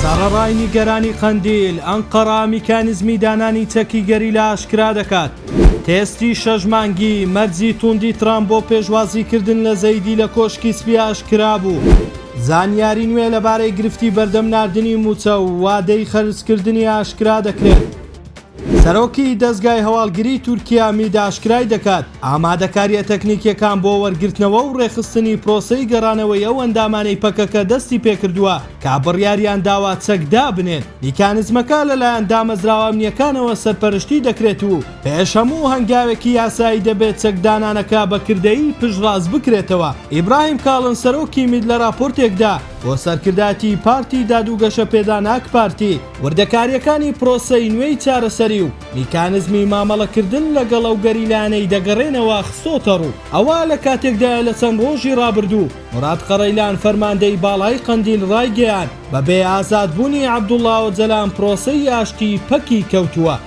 سەڕەڕای نیگەرانی قەندیل، ئەنقەرە میکانیزمی دانانی چەکی گەریلا ئاشکرا دەکات. تێستی شەش مانگی، مەرجی تووندی ترامپ بۆ پێشوازیکردن لە زەیدی لە کۆشکی سپی ئاشکرا بوو. زانیاری نوێ لەبارەی گرفتی بەردەم ناردنی مووچە و وادەی خەرجکردنی ئاشکرا دەکرێت. سەرۆکی دەزگای هەواڵگری تورکیا میت ئاشکرای دەکات، ئامادەکارییە تەکنیکییەکان بۆ وەرگرتنەوە و ڕێکخستنی پرۆسەی گەڕانەوەی ئەو ئەندامانەی پەکەکە دەستی پێکردووە کە بڕیاریان داوە چەک دابنێن، میکانزمەکە لەلایەن دامەزراوە ئەمنییەکانەوە سەرپەرشتی دەکرێت و پێش هەموو هەنگاوێکی یاسایی دەبێت چەکدانانەکە بە کردەیی پشتڕاست بکرێتەوە. ئیبراهیم کاڵن سەرۆکی میت لە ڕاپۆرتێکدا بۆ سەرکردایەتی پارتی داد و گەشەپێدان ئاکپارتی، وردەکارییەکانی پرۆسەی نوێی چارەسەری و میکانزمی مامەڵەکردن لەگەڵ ئەو گەریلایانەی دەگەڕێنەوە خستۆتەڕوو، ئەوە لە کاتێکدایە لە چەند ڕۆژی ڕابردوو موراد قەڕەیلان فەرماندەی باڵای قەندیل ڕایگەیاند، بەبێ ئازادبوونی عەبدوڵا ئۆجەلان پرۆسەی ئاشتی پەکی کەوتووە.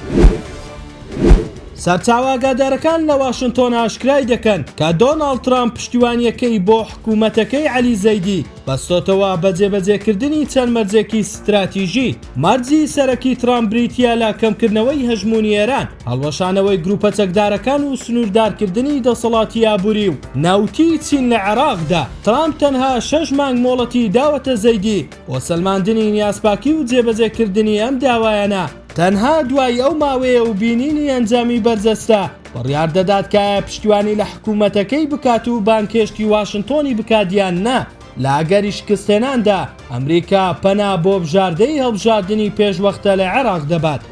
سەرچاوە ئاگادارەکان لە واشنتۆن ئاشکرای دەکەن کە دۆناڵد ترامپ پشتیوانییەکەی بۆ حکومەتەکەی عەلی زەیدی، بەستۆتەوە بە جێبەجێکردنی چەند مەرجێکی ستراتیژی، مەرجی سەرەکی ترامپ بریتییە لە کەمکردنەوەی هەژموونی ئێران، هەڵوەشانەوەی گرووپە چەکدارەکان و سنووردارکردنی دەسەڵاتی ئابووری و نەوتی چین لە عێراقدا. ترامپ تەنها شەش مانگ مۆڵەتی داوەتە زەیدی بۆ سەلماندنی نیازپاکی و جێبەجێکردنی ئەم داوایانە، تەنها دوای ئەو ماوەیە و بینینی ئەنجامی بەرجەستە بڕیار دەدات کە ئایا پشتیوانی لە حکوومەتەکەی بکات و بانگهێشتی واشنتۆنی بکات یان نا، لە ئەگەری شکستهێناندا، ئەمریکا پەنا بۆ بژاردەی هەڵبژاردنی پێشوەختە لە عێراق دەبات.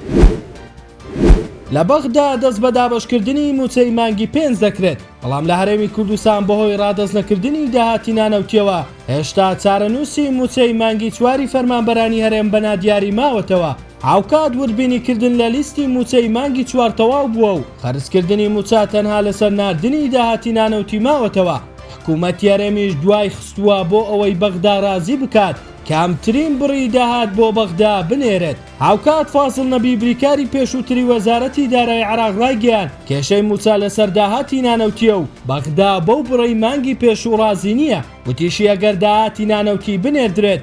لە بەغدا دەست بە دابەشکردنی مووچەی مانگی پێنج دەکرێت، بەڵام لە هەرێمی کوردستان بەهۆی ڕادەستنەکردنی داهاتی نانەوتییەوە، هێشتا چارەنووسی مووچەی مانگی چواری فەرمانبەرانی هەرێم بە نادیاری ماوەتەوە. هاوکات وردبینیکردن لە لیستی مووچەی مانگی چوار تەواو بووە و قەرزکردنی مووچە تەنها لەسەر ناردنی داهاتی نانەوتی ماوەتەوە، حکومەتی هەرێمیش دوای خستووە بۆ ئەوەی بەغدا رازی بکات کەمترین بڕی داهات بۆ بەغدا بنێرێت. هاوکات فازڵ نەبی بریکاری پێشووتری وەزارەتی دارایی عێراق رایگەیاند، کێشەی مووچە لەسەر داهاتی نانەوتییە و بەغدا بەو بڕەی مانگی پێشوو رازی نییە، وتیشی ئەگەر داهاتی نانەوتی بنێردرێت،